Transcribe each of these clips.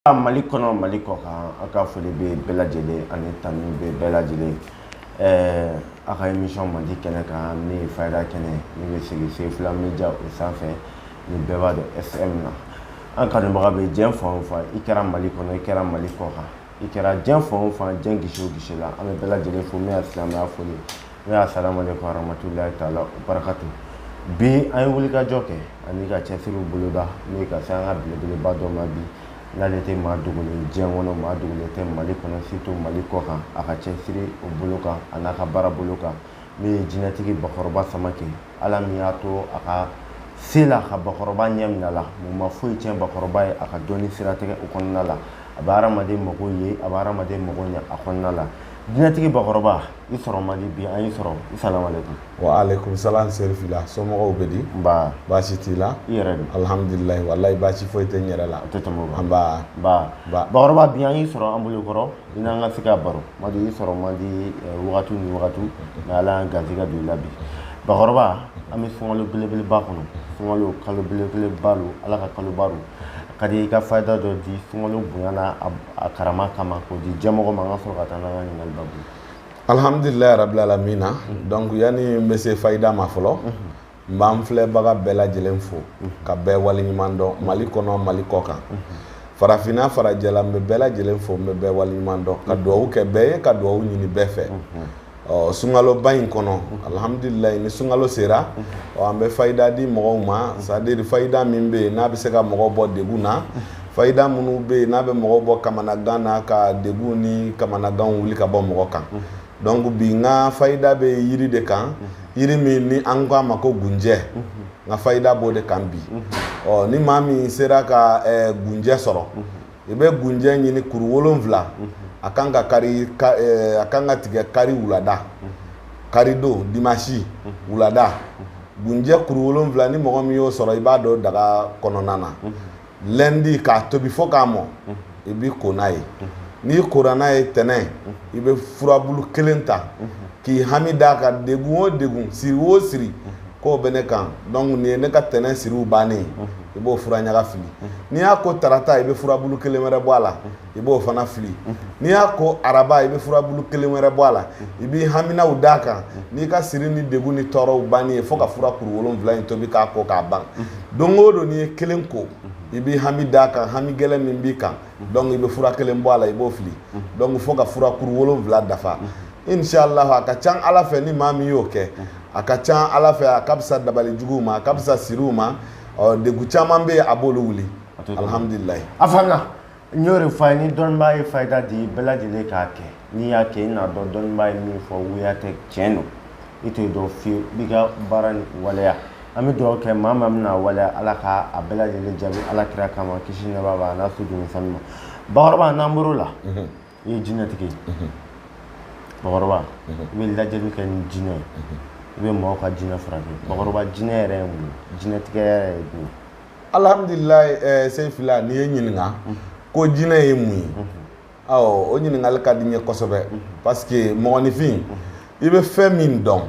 A Mali kɔnɔ Mali kɔkan an ka foli bɛ bɛɛ lajɛlen ani tanu bɛ bɛɛ lajɛlen ɛɛ a ka émission mandi kɛnɛ kan min ye fayida kɛnɛ ye min bɛ sigi Sefula Media o sanfɛ ni bɛɛ b'a dɔn SM na an kanubaga bɛ diɲɛ fan o fan i kɛra Mali kɔnɔ i kɛra Mali kɔkan i kɛra diɲɛ fan o fan diɲɛ gisi o gisi la an bɛ bɛɛ lajɛlen fo min y'a silamɛya foli ye Min ye asalamu alaikum warahmatullahi taala barakatu bi an ye wulikajɔ kɛ ani ka cɛsiriw boloda n'o ye ka se an ka belebeleba dɔ ma bi n'ale tɛ maa dogolen diɲɛ kɔnɔ maa dogolen tɛ mali kɔnɔ surtout mali kɔ kan a ka cɛsiri o bolo kan an'a ka baara bolo kan n'o ye jinɛtigi bakɔrɔba samake ala min y'a to a ka se la ka bakɔrɔba ɲɛ minɛ ala min ma foyi tiɲɛ bakɔrɔba ye a ka dɔnni siratigɛ o kɔnɔna la a bɛ hadamaden mago ye a bɛ hadamaden mago ɲɛ a kɔnɔna la jinɛtigi bakɔrɔba i sɔrɔ man di bi an y'i sɔrɔ asalamalekun wa aleykum salam Serifila somɔgɔw bɛ di nba baasi t'u la i yɛrɛ don alhamdulilayi walayi baasi foyi tɛ n yɛrɛ la o tɛ tɛmɛ o kan nba nba Ba. bakɔrɔba bi an y'i sɔrɔ an bolo kɔrɔ i n'an ka se ka baro man di i sɔrɔ man di eh, wagati ni wagati nka ala y'an garisɛgɛ don i la bi bakɔrɔba an bɛ sunkalo belebeleba kɔnɔ sunkalo kalo belebeleba don ala ka kaloba don a ka di i ka fayida dɔ di sunkalo bonya n'a a a karama kama k'o di jɛmɔgɔ ma an ka sɔrɔ ka taa n'an ka ɲininkali babu ye alhamdulilayi rabil alamina donc yanni n bɛ se fayida ma fɔlɔ n b'an filɛbaga bɛɛ lajɛlen fo ka bɛɛ waleɲuman dɔn mali kɔnɔ mali kɔ kan farafinna farajɛla n bɛ bɛɛ lajɛlen fo n bɛ bɛɛ waleɲuman dɔn ka duwawu kɛ bɛɛ ye ka duwawu ɲini bɛɛ fɛ ɔ sunkaloba in kɔnɔ alihamudulilayi ni sunkalo sera ɔ an bɛ fayida di mɔgɔw ma c'est-à-dire fayida min bɛ yen n'a bɛ se ka mɔgɔw bɔ degun na fayida minnu bɛ yen n'a bɛ mɔgɔ bɔ kamanagan na ka degun ni kamanaganw wuli ka bɔ mɔgɔ kan donc bi n ka fayida bɛ yiri de kan yiri min ni an ko a ma ko gunjɛ n ka fayida b'o de kan bi ɔ ni maa min sera ka gunjɛ sɔrɔ i bɛ gunjɛ ɲini kuru wolonwula mhm. a kan ka kari eh, a kan ka tigɛ kari wulada mhm. kari don dimasi mhm. wulada gunjɛ kuru wolonwula ni mɔgɔ min y'o sɔrɔ i b'a don daga kɔnɔna na lundi k'a tobi fo k'a mɔ i b'i ko n'a ye n'i kora n'a ye tɛnɛn i bɛ furabulu kelen ta k'i hami d'a kan degun o degun siri o siri k'o bɛ ne kan donc nin ye ne ka tɛnɛn siriw bannen ye i b'o fura ɲaga fili n'i y'a ko tarata i bɛ furabulu kelen wɛrɛ bɔ a la i b'o fana fili n'i y'a ko araba i bɛ furabulu kelen wɛrɛ bɔ a la i b'i haminaw d'a kan n'i ka siri ni degun ni tɔɔrɔw bannen ye fo ka fura kuru wolonwula in tobi k'a ko k'a ban don o don n'i ye kelen ko i b'i hami d'a kan hami gɛlɛn min b'i kan donc i bɛ fura kelen bɔ a la i b'o fili donc fo ka fura kuru wolonwula dafa inshallahu a ka can ala fɛ ni maa min y'o kɛ a ka can ala fɛ a ka fisa dabali juguw ma a ka fisa siriw ma ɔ degun caman bɛ yen a b'olu wuli alihamudulilayi a faamuya n y'o de fɔ a ye ni dɔnnibaa ye fayida di bɛɛ lajɛlen k'a kɛ n'i y'a kɛ i n'a dɔn dɔnnibaa ye min fɔ wuya tɛ tiɲɛ don i t'o dɔn fiyewu i b'i ka baara ni waleya an bɛ dugawu kɛ maa min bɛna waleya ala ka a bɛɛ lajɛlen jaabi ala kira kama kisi ni nɛɛma b'a n'a soden sanuman bakɔrɔba n'an bɔr'o la i ye jinɛtigi ye bakɔrɔba i bɛ lajɛli kɛ ni jinɛ ye i bɛ mɔgɔw ka jinɛ furakɛ bakɔrɔba jinɛ yɛrɛ ye mun ye jinɛtigi yɛrɛ ye mun ye alhamdulilayi eh, sɛyi fila n'i ye ɲininka ko jinɛ ye mun ye awɔ o ɲininkali ka di n ye kosɛbɛ parce que mɔgɔninfin i bɛ fɛn min dɔn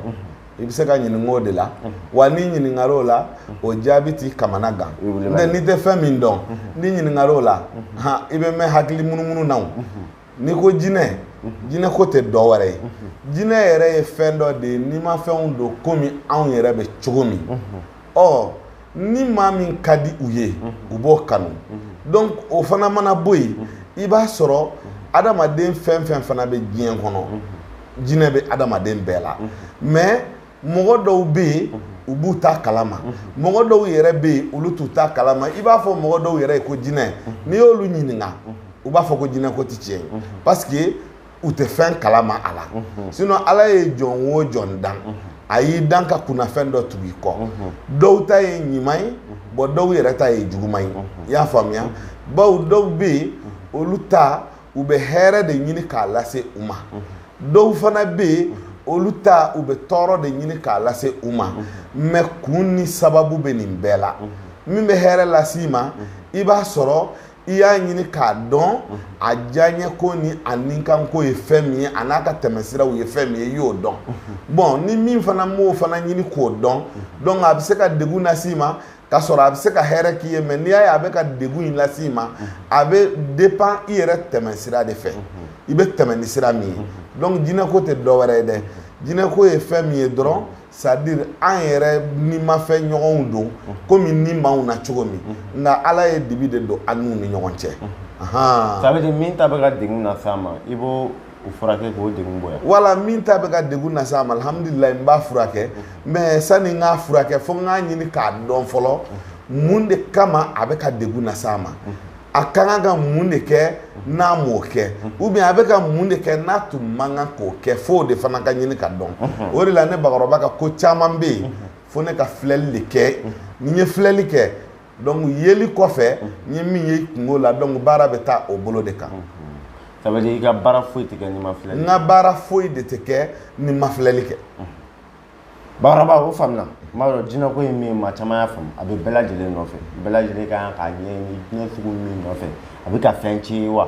i bɛ se ka ɲininka o de la wa n'i ɲininkara o la o jaabi t'i kamanagan n'o n'i tɛ fɛn min dɔn n'i ɲininkara o la i bɛ mɛn hakili munumunu na n'i ko jinɛ jinɛko tɛ dɔ wɛrɛ ye jinɛ yɛrɛ ye fɛn dɔ de ye nimafɛnw don komi anw yɛrɛ bɛ cogo min ɔ ni maa min ka di u ye u b'o kanu donc o fana mana bɔ yen i b'a sɔrɔ adamaden fɛn fɛn fana bɛ diɲɛ kɔnɔ jinɛ bɛ adamaden bɛɛ la mais mɔgɔ dɔw bɛ yen u b'u ta kalama mɔgɔ dɔw yɛrɛ bɛ yen olu t'u ta kalama i b'a fɔ mɔgɔ dɔw yɛrɛ ye ko jinɛ n'i y'olu ɲininka u b'a fɔ ko jinɛko tɛ tiɲɛ ye parce que u tɛ fɛn kalama a la sinon ala ye jɔn o jɔn dan a y'i dan ka kunnafɛn dɔ tugu i kɔ dɔw ta ye ɲuman ye bon dɔw yɛrɛ ta ye juguman ye i y'a faamuya bawo dɔw bɛ yen olu ta u bɛ hɛrɛ de ɲini k'a lase u ma dɔw fana bɛ yen olu ta u bɛ tɔɔrɔ de ɲini k'a lase u ma mais kun ni sababu bɛ nin bɛɛ la min bɛ hɛrɛ lase i ma i b'a sɔrɔ i y'a ɲini k'a dɔn mhm. a diyaɲɛ ko ni a nikanko ye fɛn min ye a n'a ka tɛmɛsiraw ye fɛn min ye i y'o dɔn mhm. bon ni min fana m'o fana ɲini k'o dɔn mhm. donc a bɛ se ka degun lase i ma k'a sɔrɔ a bɛ se ka hɛrɛ k'i ye mais n'i y'a ye a bɛ ka degun in lase i ma a bɛ dépend i yɛrɛ tɛmɛsira de fɛ i bɛ tɛmɛ ni sira min ye donc jinɛko tɛ dɔ wɛrɛ ye dɛ jinɛko ye fɛn min ye dɔrɔn c'est à dire an yɛrɛ nimafɛn ɲɔgɔnw don komi ni b'anw na cogo min nka ala ye dibi de don an n'u ni ɲɔgɔn cɛ ça veut dire min ta bɛ ka degun las'a ma i b'o u furakɛ k'o degun bɔ yan wala min ta bɛ ka degun las'a ma alhamdulilayi n b'a furakɛ mais sani n k'a furakɛ fo n k'a ɲini k'a dɔn fɔlɔ mun de kama a bɛ ka degun las'a ma a ka kan ka mun de kɛ n'a m'o kɛ ou bien a bɛ ka mun de kɛ n'a tun man kan k'o kɛ f'o de fana ka ɲini ka dɔn o de la ne bakɔrɔba ka ko caman bɛ yen fo ne ka filɛli de kɛ ni n ye filɛli kɛ donc yeli kɔfɛ n ye min ye kunko la donc baara bɛ taa o bolo de kan ça veut dire i ka baara foyi tɛ kɛ ni n ma filɛli n ka baara foyi de tɛ kɛ ni n ma filɛli kɛ bakɔrɔba o faamuna n b'a dɔn jinɛko ye min ye maa caman y'a faamu a bɛ bɛɛ lajɛlen nɔfɛ bɛɛ lajɛlen ka kan k'a ɲɛɲini jinɛ sugu min nɔfɛ a bɛ ka fɛn tiɲɛ ye wa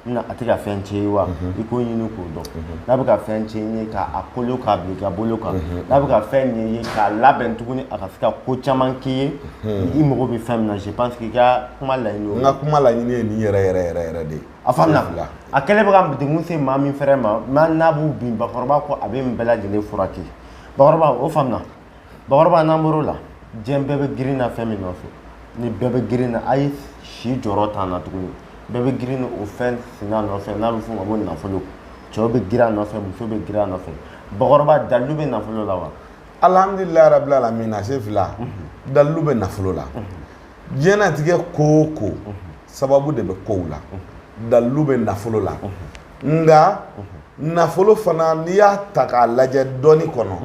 na a tɛ ka fɛn tiɲɛ ye wa mhm. i k'o ɲini k'o dɔn mhm. n'a bɛ ka fɛn tiɲɛ ye k'a kolo k'a bila i ka bolo kan mhm. n'a bɛ ka fɛn ɲɛ ye k'a labɛn tuguni a ka se ka ko caman k'i ye i mago bɛ fɛn min na je pense que i ka kuma laɲini n ka kuma laɲini ye nin yɛrɛ yɛrɛ yɛrɛ yɛrɛ de ye a faamuna a kɛlen bɛ ka degun se maa min fɛrɛ ma n'a n'a b'u bin bakɔrɔba ko a bɛ nin bɛɛ lajɛlen furakɛ bakɔrɔba o faamuna bakɔrɔba n'an bɔr'o la diɲɛ bɛɛ bɛ girin na fɛn min nɔfɛ ni bɛɛ bɛ girin na a ye si jɔyɔrɔ t'an na tuguni bɛɛ bɛ girin o fɛn sina nɔfɛ n'a bɛ f'o ma ko nafolo cɛw bɛ girin a nɔfɛ muso bɛ girin a nɔfɛ bakɔrɔba dalilu bɛ nafolo la wa alhamdulilayi rabil alamina sefila dalilu bɛ nafolo la diɲɛnatigɛ ko o ko sababu de bɛ kow la dalilu bɛ nafolo la nka nafolo fana n'i y'a ta k'a lajɛ dɔnni kɔnɔ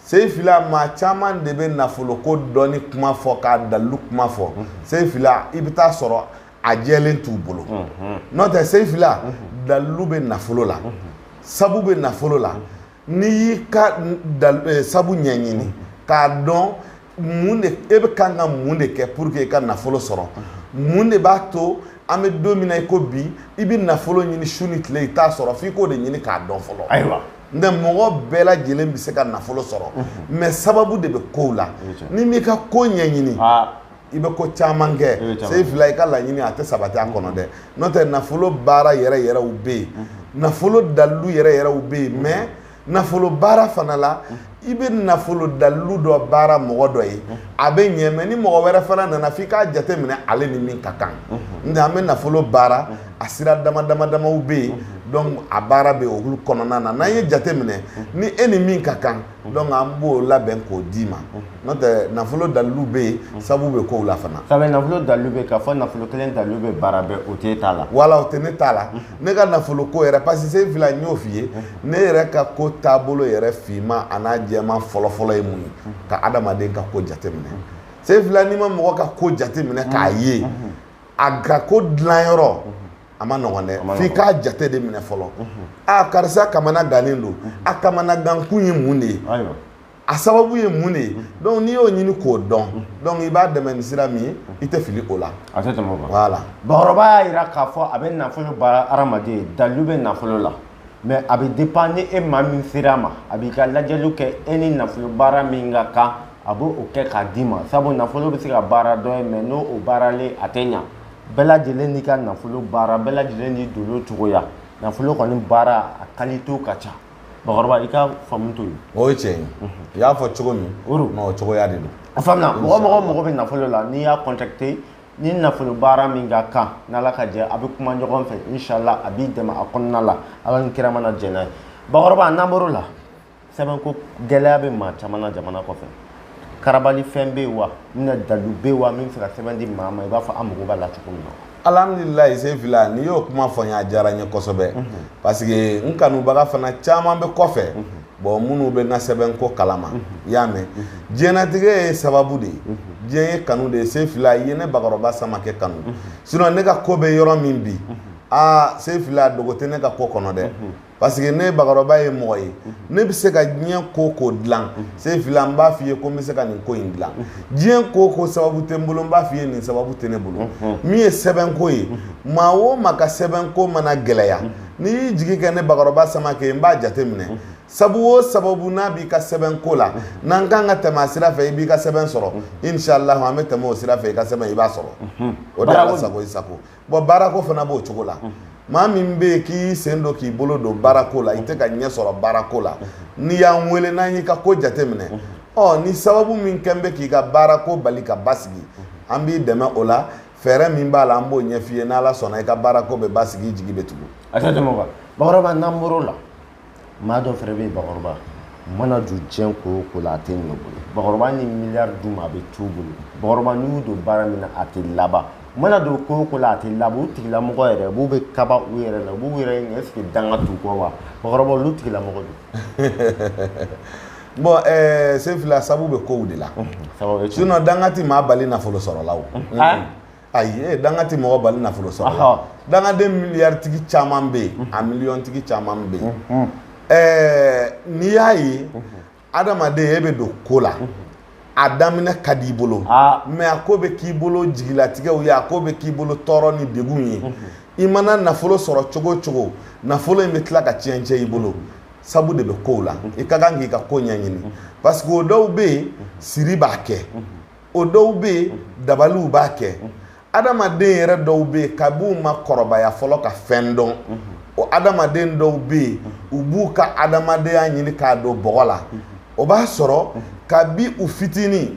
sefila maa caman de bɛ nafolo ko dɔnni kuma fɔ k'a dalilu kuma fɔ sefila i bɛ taa sɔrɔ a jɛlen t'u bolo n'o tɛ sefila dalilu bɛ nafolo la sabu bɛ nafolo la n'i y'i ka sabu ɲɛɲini k'a dɔn. mun de e bɛ kan ka mun de kɛ pour que i ka nafolo sɔrɔ mun de b'a to an bɛ don min na i ko bi i bɛ nafolo ɲini su ni tile i t'a sɔrɔ f'i k'o de ɲini k'a dɔn fɔlɔ ayiwa nka mɔgɔ bɛɛ lajɛlen bɛ se ka nafolo sɔrɔ mais sababu de bɛ kow la n'i m'i ka ko ɲɛɲini i bɛ ko caman kɛ sefila i ka laɲini a tɛ sabati a kɔnɔ dɛ n'o tɛ nafolo baara yɛrɛ yɛrɛw bɛ yen nafolo dalilu yɛrɛ yɛrɛw bɛ yen mais nafolo baara fana la i bɛ nafolo dalilu dɔ baara mɔgɔ dɔ ye a bɛ ɲɛ mais ni mɔgɔ wɛrɛ fana nana f'i k'a jate minɛ ale ni min ka kan nka an bɛ nafolo baara a sira dama dama damaw bɛ yen donc a baara bɛ olu kɔnɔna na n'an ye jate minɛ ni e ni min ka kan donc an b'o labɛn k'o d'i ma n'o tɛ nafolo dalilu bɛ yen sabu bɛ kow la fana. Sabu nafolo dalilu bɛ yen k'a fɔ nafolo kelen dalilu bɛ baara bɛɛ o t'e ta la. Wala o tɛ ne ta la. ne ka nafolo ko yɛrɛ parce que sefila n y'o f'i ye ne yɛrɛ ka ko taabolo yɛrɛ finman an'a jɛman fɔlɔfɔlɔ ye mun ye ka adamaden ka ko jateminɛ sefila n'i ma mɔgɔ ka ko jateminɛ k'a ye a ka ko dilanyɔrɔ a man nɔgɔn dɛ f'i k'a jate de minɛ fɔlɔ a karisa kamana gannen don a kamana gankun ye mun de ye a sababu ye mun de ye donc n'i y'o ɲini k'o dɔn donc i b'a dɛmɛ ni sira min ye i tɛ fili o la a tɛ tɛmɛ o kan voilà bakɔrɔba y'a jira k'a fɔ a bɛ nafolo baara hadamaden ye dalilu bɛ nafolo la mais a bɛ dépend ni e maa min sera a ma a b'i ka lajɛliw kɛ e ni nafolo baara min ka kan a b'o kɛ k'a d'i ma sabu nafolo bɛ se ka baara dɔ ye mais n'o baaralen a tɛ ɲa bɛɛ lajɛlen n'i ka nafolo baara bɛɛ lajɛlen n'i dolo cogoya nafolo kɔni baara a kalitew ka ca bakɔrɔba i ka faamu t'o ye o ye tiɲɛ ye i y'a fɔ cogo min o cogoya de don a faamuya mɔgɔ o mɔgɔ mago bɛ nafolo la n'i y'a contacter ni nafolo baara min ka kan n'ala ka jɛn a bɛ kuma ɲɔgɔn fɛ inshallah a b'i dɛmɛ a kɔnɔna la ala ni kira mana jɛn n'a ye bakɔrɔba n'an bɔr'o la sɛbɛnko gɛlɛya bɛ maa caman na jamana kɔfɛ karabali fɛn bɛ yen wa n bɛna dalilu bɛ yen wa min bɛ se ka sɛbɛn di maa ma i b'a fɔ a mago b'a la cogo min na alhamdulilayi sefila n'i y'o kuma fɔ n ye a diyara n ye kosɛbɛ parce que n kanubaga fana caman bɛ kɔfɛ bɔn minnu bɛ n ka sɛbɛnko kalama i y'a mɛn diɲɛnatigɛ ye sababu de ye diɲɛ ye kanu de ye sefila i ye ne bakɔrɔba samakɛ kanu sinɔn ne ka ko bɛ yɔrɔ min bi aa sefila dogo tɛ ne ka ko kɔnɔ dɛ parce que ne bakɔrɔba ye mɔgɔ ye ne bɛ se ka diɲɛ ko o ko dilan sefila n b'a f'i ye ko n bɛ se ka nin ko in dilan diɲɛ ko o ko sababu tɛ n bolo n b'a f'i ye nin sababu tɛ ne bolo min ye sɛbɛnko ye maa o maa ka sɛbɛnko mana gɛlɛya n'i y'i jigi kɛ ne bakɔrɔba samakɛ n b'a jate minɛ sabu o sabu n'a b'i ka sɛbɛnko la n'an kan ka tɛmɛ a sira fɛ i b'i ka sɛbɛn sɔrɔ inshallah an bɛ tɛmɛ o sira fɛ i ka sɛbɛn i b'a sɔrɔ o de ye Ala sago i sago Bon baarako fana b'o cogo la, unhun, maa min bɛ yen k'i sen don k'i bolo don baarako la i tɛ ka ɲɛ sɔrɔ baarako la, n'i y'an wele n'an y'i ka ko jateminɛ, unhun, ɔ ni sababu min kɛlen bɛ k'i ka baarako bali ka basigi, an b'i dɛmɛ o la fɛɛrɛ min b'a la an b'o ɲɛf'i ye n'Ala sɔnna i ka baarako bɛ basigi i jigi bɛ tugu. A tɛ tɛmɛ o kan, Bakɔrɔba n'an bɔr'o la, maa dɔ fɛnɛ bɛ yen bakɔrɔba mana don diɲɛ ko o ko la a tɛ ɲɛ u bolo bakɔrɔba ni miliyari d'u ma a bɛ t'u bolo bakɔrɔba n'u y'u don baara min na a tɛ laban mana don ko o ko la a tɛ laban u tigilamɔgɔ yɛrɛ b'u bɛ kaba u yɛrɛ la u b'u yɛrɛ ɲɛ est-ce que danga t'u kɔ wa bakɔrɔba olu tigilamɔgɔ dun bɔn ɛɛ eh, sefila sabu bɛ kow de la sinɔn danga ti maa bali nafolo sɔrɔ la o ayi danga tɛ mɔgɔ bali nafolo sɔrɔ dangaden miliyaritigi caman bɛ yen a miliyɔntigi caman bɛ yen ɛɛ n'i y'a ye adamaden e bɛ don ko la a daminɛ ka di i bolo mais a ko bɛ k'i bolo jigilatigɛw ye a ko bɛ k'i bolo tɔɔrɔ ni degun ye i mana nafolo sɔrɔ cogo o cogo nafolo in bɛ tila ka tiɲɛ tiɲɛ i bolo sabu de bɛ kow la i ka kan k'i ka ko ɲɛɲini parce que o dɔw bɛ yen siri b'a kɛ o dɔw bɛ yen dabaliw b'a kɛ adamaden yɛrɛ dɔw bɛ yen kab'u ma kɔrɔbaya fɔlɔ ka fɛn dɔn o adamaden dɔw bɛ yen u b'u ka adamadenya ɲini k'a don bɔgɔ la o b'a sɔrɔ kabi u fitinin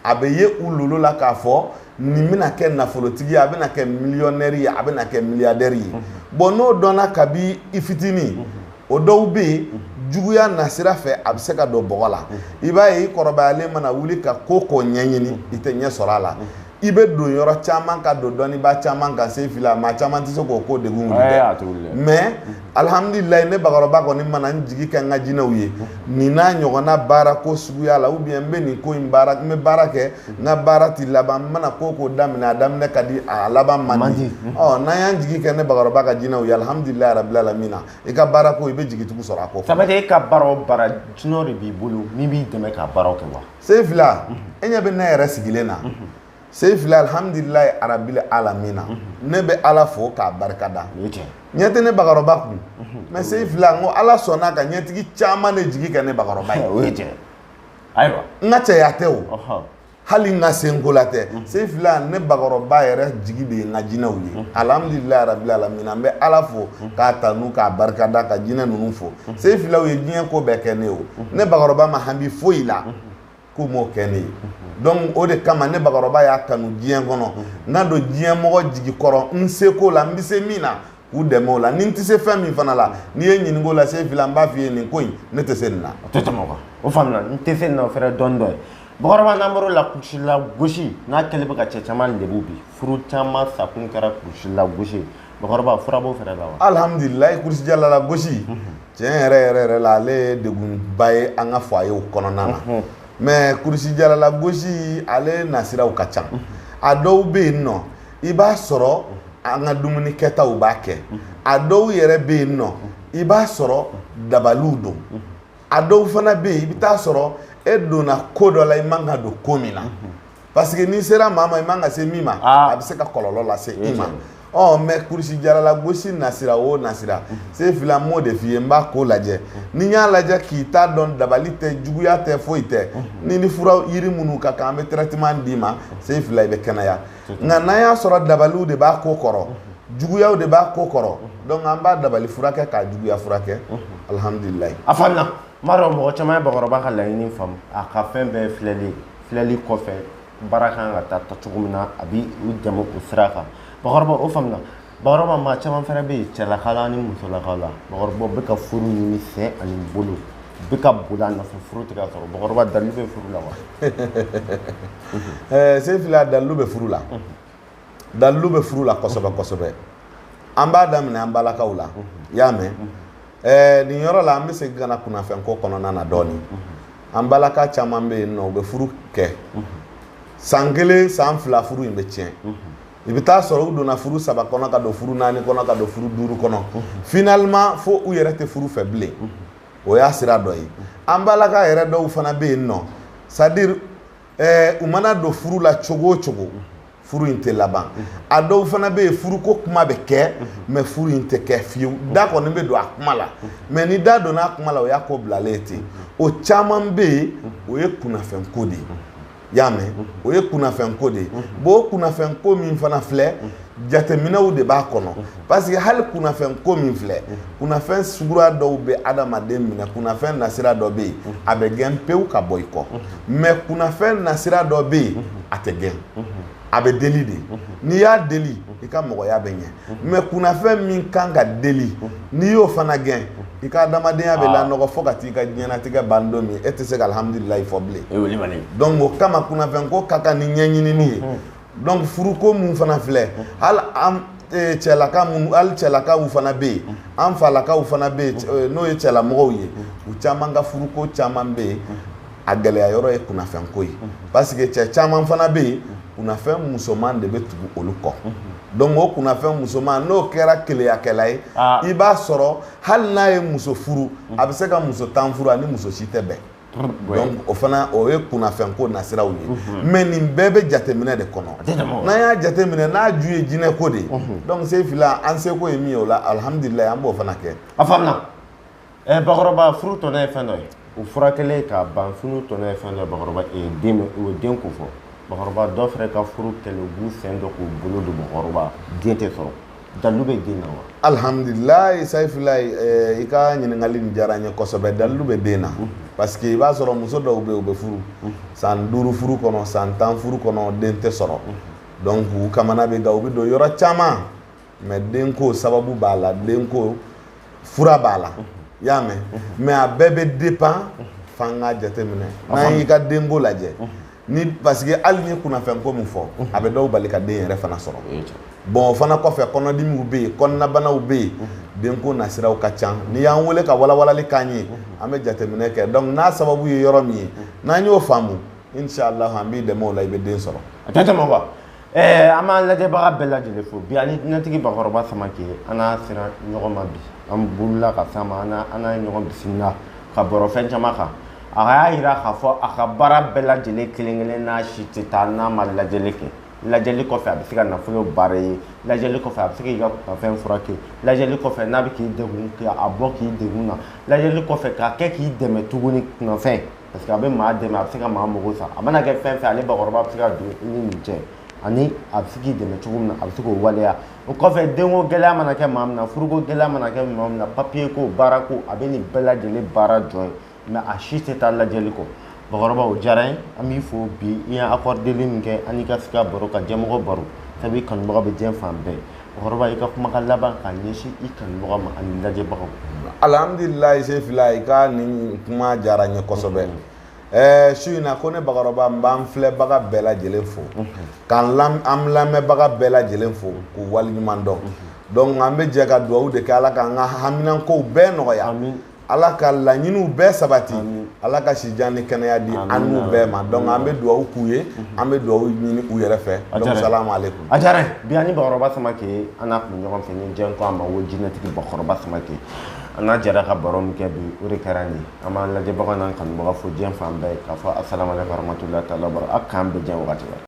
a bɛ ye u lolo la k'a fɔ nin bɛna kɛ nafolotigi ye a bɛna kɛ miliyɔnɛri ye a bɛna kɛ miliyadɛri ye bon n'o dɔnna kabi i fitinin o dɔw bɛ yen juguya nasira fɛ a bɛ se k'a don bɔgɔ la i b'a ye i kɔrɔbayalen mana wuli ka ko o ko ɲɛɲini i tɛ ɲɛ sɔrɔ a la i bɛ don yɔrɔ caman ka don dɔnnibaa caman kan sefila maa caman tɛ se k'o ko degun wuli dɛ mais alihamdulilayi ne bakɔrɔba kɔni mana n jigi kɛ n ka jinɛw ye nin n'a ɲɔgɔnna baara ko suguya la ou bien n bɛ nin ko in baara n bɛ baara kɛ n ka baara tɛ laban n mana ko o ko daminɛ a daminɛ ka di a laban man di ɔ n'an y'an jigi kɛ ne bakɔrɔba ka jinɛw ye alihamdulilayi rabil alamina i ka baara ko i bɛ jigi tugu sɔrɔ a ko ça veut dire e ka baara o baara jinɛ de b'i bolo min b'i dɛmɛ ka baara kɛ wa sefila e ɲɛ bɛ ne yɛrɛ sigilen na sefila alhamdulilayi rabil alamina ne bɛ ala fo k'a barika da ɲɛ tɛ ne bakɔrɔba kun mais sefila n ko ala sɔnna ka ɲɛtigi caman de jigi kɛ ne bakɔrɔba ye o ye tiɲɛ ayiwa n ka cɛya tɛ o hali n ka senko la tɛ mhm. sefila ne bakɔrɔba yɛrɛ jigi de ye n ka jinɛw ye mhm. alhamdulilayi rabil alamina n bɛ ala fo mhm. k'a tanu k'a barika da ka jinɛ ninnu fo sefila u ye diɲɛ ko bɛɛ kɛ ne o ne bakɔrɔba ma hami foyi la k'u m'o kɛ ne ye donc o de kama ne bakɔrɔba y'a kanu diɲɛ kɔnɔ n ka don diɲɛ mɔgɔ jigi kɔrɔ n seko la n bɛ se min na k'u dɛmɛ o la ni n tɛ se fɛn min fana la n'i ye n ɲininka o la sefila n b'a f'i ye nin ko in ne tɛ se nin na. o tɛ tɛmɛ o kan o faamuna n tɛ se nin na o fɛnɛ dɔnni dɔ ye bakɔrɔba n'an bɔr'o la kurusi la gosi n'a kɛlen bɛ ka cɛ caman lebu bi furu caman sakun kɛra kurusi la gosi ye bakɔrɔba fura b'o fɛnɛ la wa. alihamudulilayi kurusi jala la gosi tiɲɛ yɛrɛ yɛrɛ yɛrɛ la ale ye degunba ye an ka foyew kɔnɔna na mais kurusi jala la gosi ale nasiraw ka ca a dɔw bɛ yen nɔ. i b'a sɔrɔ an ka dumuni kɛtaw b'a kɛ a dɔw yɛrɛ bɛ yen nɔ i b'a sɔrɔ dabaliw don a dɔw fana bɛ yen i bɛ t'a sɔrɔ e donna ko dɔ la i man ka don ko min na parce que n'i sera maa ma i man ka se min ma ah. a bɛ se ka kɔlɔlɔ lase i ma ɔ mais kurusi jala la gosi nasira o nasira sefila n b'o de f'i ye n b'a ko lajɛ ni n y'a lajɛ k'i ta dɔn dabali tɛ juguya tɛ foyi tɛ ni ni fura yiri minnu ka kan an bɛ traitement d'i ma sefila i bɛ kɛnɛya nka n'an y'a sɔrɔ dabaliw de b'a ko kɔrɔ juguyaw de b'a ko kɔrɔ donc an b'a dabali furakɛ k'a juguya furakɛ alhamdulilayi a faamuna n b'a dɔn mɔgɔ caman ye bakɔrɔba ka laɲini faamu a ka fɛn bɛɛ filɛli filɛli kɔfɛ baara kan ka taa ta cogo min na a bi u dɛmɛ o sira kan bakɔrɔba o faamuna bakɔrɔba maa caman fana bɛ yen cɛlakaw la ani musolakaw la bakɔrɔba u bɛ ka furu ɲini sen ani bolo bɛ ka boli a nɔfɛ furu tɛ ka sɔrɔ bakɔrɔba dalilu bɛ furu la wa eh, sefila dalilu bɛ furu la dalilu bɛ furu la kosɛbɛ kosɛbɛ an b'a daminɛ an balakaw la i y'a mɛn eh, nin yɔrɔ la an bɛ segin ka na kunnafɛnko kɔnɔna na dɔɔnin an balaka caman bɛ yen nɔ u bɛ furu kɛ san kelen san fila furu in bɛ tiɲɛ i bɛ taa sɔrɔ u donna furu saba kɔnɔ ka don furu naani kɔnɔ ka don furu duuru kɔnɔ finalement fo u yɛrɛ tɛ furu fɛ bilen o y'a sira dɔ ye an balaka yɛrɛ dɔw fana bɛ yen nɔ c'est à dire ɛɛ u mana don furu la cogo o cogo furu in tɛ laban a dɔw fana bɛ yen furuko kuma bɛ kɛ mais furu in tɛ kɛ fiyewu da kɔni bɛ don a kuma la mais ni da donna a kuma la o y'a ko bilalen ye ten o caman bɛ yen o ye kunnafɛnko de ye. i y'a mɛn o ye kunnafɛnko de ye bon o kunnafɛnko min fana filɛ jateminɛw de b'a kɔnɔ parce que hali kunnafɛnko min filɛ kunnafɛn suguya dɔw bɛ adamaden minɛ kunnafɛn nasira dɔ bɛ yen a bɛ gɛn pewu ka bɔ i kɔ mais kunnafɛn nasira dɔ bɛ yen a tɛ gɛn a bɛ deli de n'i y'a deli i ka mɔgɔya bɛ ɲɛ mais kunnafɛn min kan ka deli n'i y'o fana gɛn i ka adamadenya bɛ lanɔgɔ fo ka t'i ka diɲɛnatigɛ ban don min e tɛ se ka alhamdulilayi fɔ bilen donc o kama kunnafɛnko ka kan ni ɲɛɲinini ye donc furuko min fana filɛ hali an e, cɛlaka minnu hali cɛlakaw fana bɛ yen an falakaw fana bɛ yen e, n'o ye cɛlamɔgɔw ye u caman ka furuko caman bɛ yen a gɛlɛya yɔrɔ ye kunnafɛnko ye parce que cɛ caman fana bɛ yen kunnafɛn musoman de bɛ tugu olu kɔ donc o kunnafɛn musoman n'o kɛra keleyakɛla ye ah. i b'a sɔrɔ hali n'a ye muso furu a bɛ se ka muso tan furu a ni muso si tɛ bɛn donc o fana o ye kunnafɛnko nasiraw ye mhm. mais nin bɛɛ bɛ jateminɛ de kɔnɔ n'an y'a jateminɛ n'a ju ye jinɛko de ye mhm. donc sefila an seko ye min ye o la alihamudulilayi an b'o fana kɛ a faamuna ɛ bakɔrɔba furu tɔnɔ ye fɛn dɔ ye o fura kɛlen ka ban furu tɔnɔ ye fɛn dɔ ye bakɔrɔba ee den o ye denko fɔ bakɔrɔba dɔ fɛnɛ ka furu kɛlen u b'u sen don k'u bolo don bakɔrɔba den tɛ sɔrɔ dalilu bɛ den na wa alihamudulilayi sayifilayi eh, i ka ɲininkali nin diyara n ye kosɛbɛ dalilu bɛ den na parce que i b'a sɔrɔ muso dɔw bɛ yen u bɛ furu san duuru furu kɔnɔ san tan furu kɔnɔ den tɛ sɔrɔ donc u kamana bɛ gan u bɛ don yɔrɔ caman mais denko sababu b'a la denko fura b'a la i y'a mɛn mais a bɛɛ bɛ dépend f'an k'a jateminɛ n'an y'i ka denko lajɛ ni parce que hali n ye kunnafɛnko min fɔ a bɛ dɔw bali ka den yɛrɛ fana sɔrɔ bon o fana kɔfɛ kɔnɔdimiw bɛ yen kɔnɔnabanaw bɛ yen denko nasiraw ka ca n'i y'an wele ka walawalali k'an ye an bɛ jateminɛ kɛ donc n'a sababu ye yɔrɔ min ye n'an y'o faamu inshallah an b'i dɛmɛ o la i bɛ den sɔrɔ a tɛ tɛmɛ wa ɛɛ an b'an lajɛbaga bɛɛ lajɛlen fo bi an ni jinɛtigi bakɔrɔba Samake an n'a sera ɲɔgɔn ma bi an bolila ka s'a ma an n'a ye ɲɔgɔn bisimila ka baro fɛn caman kan a y'a jira k'a fɔ a ka baara bɛɛ lajɛlen kelen kelen n'a si tɛ taa n'a ma lajɛli kɛ lajɛli kɔfɛ a bɛ se ka nafolo baara ye lajɛli kɔfɛ a bɛ se k'i ka kunfɛn furakɛ lajɛli kɔfɛ n'a bɛ k'i degun k'a bɔ k'i degun na lajɛli kɔfɛ k'a kɛ k'i dɛmɛ tuguni kunnafɛn parce que a bɛ maa dɛmɛ a bɛ se ka maa mago sa a mana kɛ fɛn fɛn ale bakɔrɔba bɛ se ka don i ni nin cɛ ani a bɛ se k'i dɛmɛ cogo min na a bɛ se k'o waleya o kɔfɛ denko gɛlɛya mana kɛ maa min na furuko gɛlɛya mana kɛ maa min na papiye ko baara ko a bɛ nin bɛɛ lajɛlen baara jɔ ye mais a si tɛ taa lajɛli kɔ bakɔrɔba o diyara n ye an b'i fo bi i ye akɔrideli min kɛ an n'i ka sigi ka baro ka jɛmɔgɔ baro sabu i kanubaga bɛ diɲɛ fan bɛɛ kɔrɔba i ka kumakan laban ka ɲɛsin i kanubagaw ma ani lajɛbagaw alhamdulilayi Sefila i ka nin kuma diyara n ye kosɛbɛ ɛɛ su in na ko ne bakɔrɔba n b'an filɛbaga bɛɛ lajɛlen fo k'an an lamɛnbaga bɛɛ lajɛlen fo k'u waleɲuman dɔn donc an bɛ jɛ ka dugawu de kɛ ala k'an ka haminankow bɛɛ nɔgɔya Ala ka laɲiniw bɛɛ sabati Ala ka si jan ni kɛnɛya di an n'u bɛɛ ma donc an bɛ dugawu k'u ye an bɛ dugawu ɲini u yɛrɛ fɛ donc salamu aleyikomu a diyara bi an ni Bakɔrɔba Samake an n'a tun bɛ ɲɔgɔn fɛ ni jɛn ko a ma ko jinɛtigi Bakɔrɔba Samake an n'a jɛra ka baro min kɛ bi o de kɛra nin ye an b'an lajɛbagaw n'an kanubaga fo diɲɛ fan bɛɛ k'a fɔ asalamu aleyikumu waramatulahi taala wabarakatuhu a k'an bɛɛ jɛ wagati la